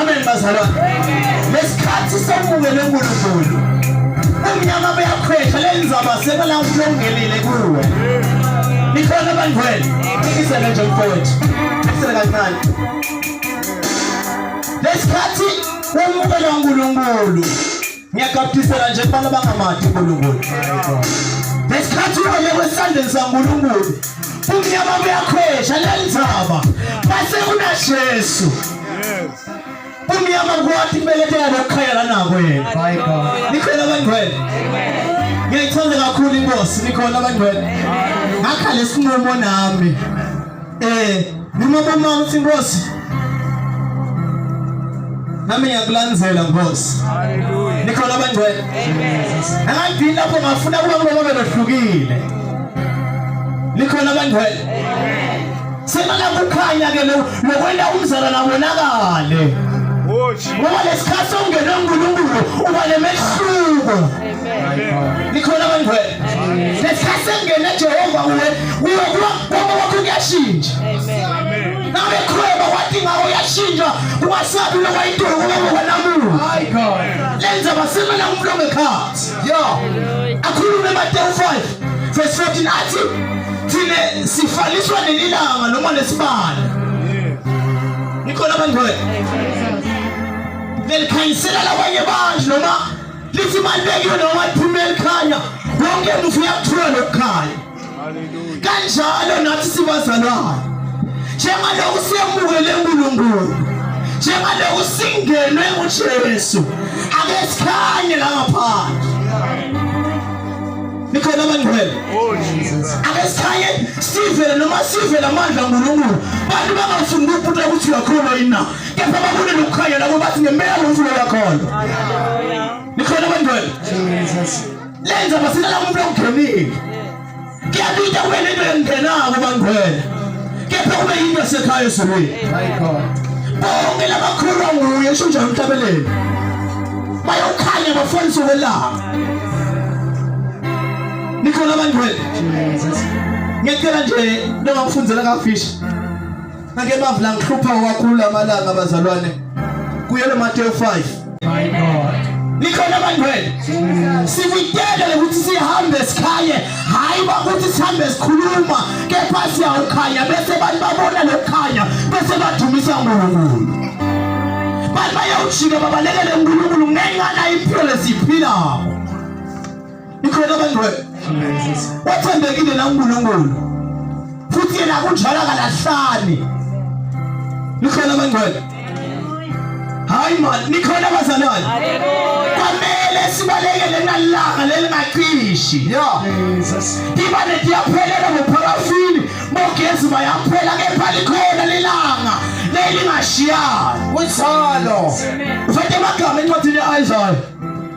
amen bazalwane lesikhathi samukele unkulunkulu umnyama buyakhwehla lenzaba sekala uhlongelile kuwe nikhona bangwele isele nje mfowethu isele kancane lesikhathi wamukela unkulunkulu ngiyagabdisela nje kubana bangamadi unkulunkulu ngesikhathi uhambe kwesandleni sankulunkulu umnyama buyakhwesha lenzaba base kunajesu umnyama kwathi kubeletheka lokukhayela nako yena nikhona abangcwele ngiyayithanda kakhulu inkosi nikhona abangcwele ngakha lesinqumo nami Eh, noma bomama uthi inkosi. Nami ngiyakulandzela Nkosi. Hallelujah. Nikhona abangcwele. Amen. Angayidini lapho ngafuna kuba kulobo belohlukile. Nikhona abangcwele. Amen. Semala kukhanya ke lokwenda umzala nabonakale. Ngoba lesikhathi ongene uNkulunkulu uba nemehluko. nikhona abangcwele ngesikhathi engene jehova kuwe kuwe kuba mgomo wakho kuyashintsha nabe khweba wathi ngawo uyashintsha ungasabi uloba intolo kulobo kwanamuntu lenza basimela umuntu ongekhathi yo akhulume matewu 5 verse 14 athi thina sifaliswa nelilanga noma nesibane nikhona abangcwele lelikhanyisela labanye abantu noma lithi balulekile noma liphuma elikhanya wonke mufi uyakuthola lokukhanya kanjalo nathi sibazalwane njengalokhu siyemukele unkulunkulu njengalokhu singenwe ujesu ake sikhanye la ngaphandle nikhona abangcwele oh, ake sikhanye sivele noma sivele amandla nkulunkulu bantu bangafuni ukubuta ukuthi uyakhona yini na kepha babone nokukhanya labo bathi ngempela ngumfuno kakhona nikhona kwendwele lenza basilala umuntu ongenile kuyabita wena into engenako bangwele kepha kube yinto sekhaya ezulwini bonke labakhulwa nguye sho njalo emhlabeleni bayokhanya bafundisa ukwelapha nikhona abangcwele ngicela nje noma kufundela kafishi Ngake mavula ngihlupha kakhulu amalanga abazalwane. Kuyele Matthew 5. My God. nikhona abangcwele sivikele ukuthi sihambe sikhaye hhayi bakuthi sihambe sikhuluma kepha siyawukhanya bese abantu babona lokukhanya bese badumisa unkulunkulu bantu bayawujika babalekele unkulunkulu ngenxa nayo impilo lesiyiphilayo ikhona abangcwele wathembekile na uNkulunkulu futhi yena kunjalo akalahlani nikhona abangcwele hayi mani nikhona abazalwane kwamele sibalekele nalanga lelingacishi yo iba netiyaphelela ngopharafini bogezi bayaphela kepha likhona lelanga lelingashiyani kunjalo ufete amagama encwadini ya-isaya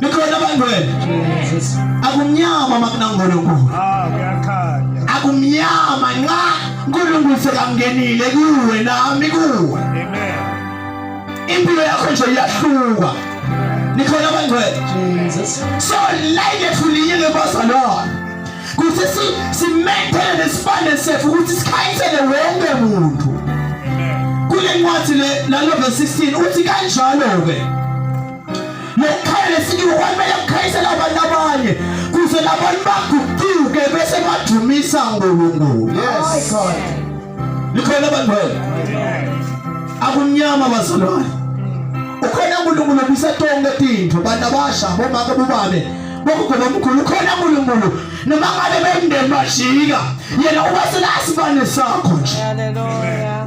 Nikhona bantwana. Jesus. Akumnyama makunaNkulunkulu. Ah, kuyakhanya. Akumnyama nxa uNkulunkulu sekangenile kuwe nami kuwe. Amen. Impilo yakho nje iyahluka. Nikhona bantwana. Jesus. So like efuliyile bazalwane. Kuthi si simethele nesibane sethu ukuthi sikhayisele wonke umuntu. Kule ncwadi le lalo verse 16 uthi kanjalo ke. Nokukhala lesikiwe kwamele kukhayisela abantu abanye kuze nabantu baguquke bese badumisa uNkulunkulu. Yes. Likhona abantu wena. Akumnyama bazalwane. Ukhona uNkulunkulu obisa tonke tintfo bantu abasha bomake bubane bokugoba omkhulu ukhona uNkulunkulu noma ngabe bemndeni bajika yena uba selasibane sakho nje. Hallelujah.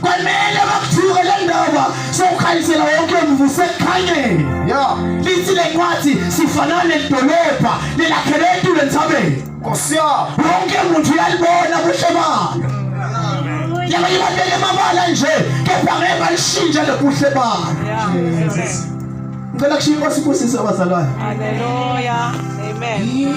Kwamele bakuthuke le ndaba sokukhanyisela wonke mvu sekukhanyeni. Ya. Lithi le ncwadi sifanana nedolobha lelakhele etulo entsabeni. Nkosi ya. Wonke muntu uyalibona kuhle balo. Yabanye abantu benemabala nje kepha ngeke balishintshe lobuhle balo. Ngicela kushiya inkosi kusisa abazalwane. Hallelujah. Amen.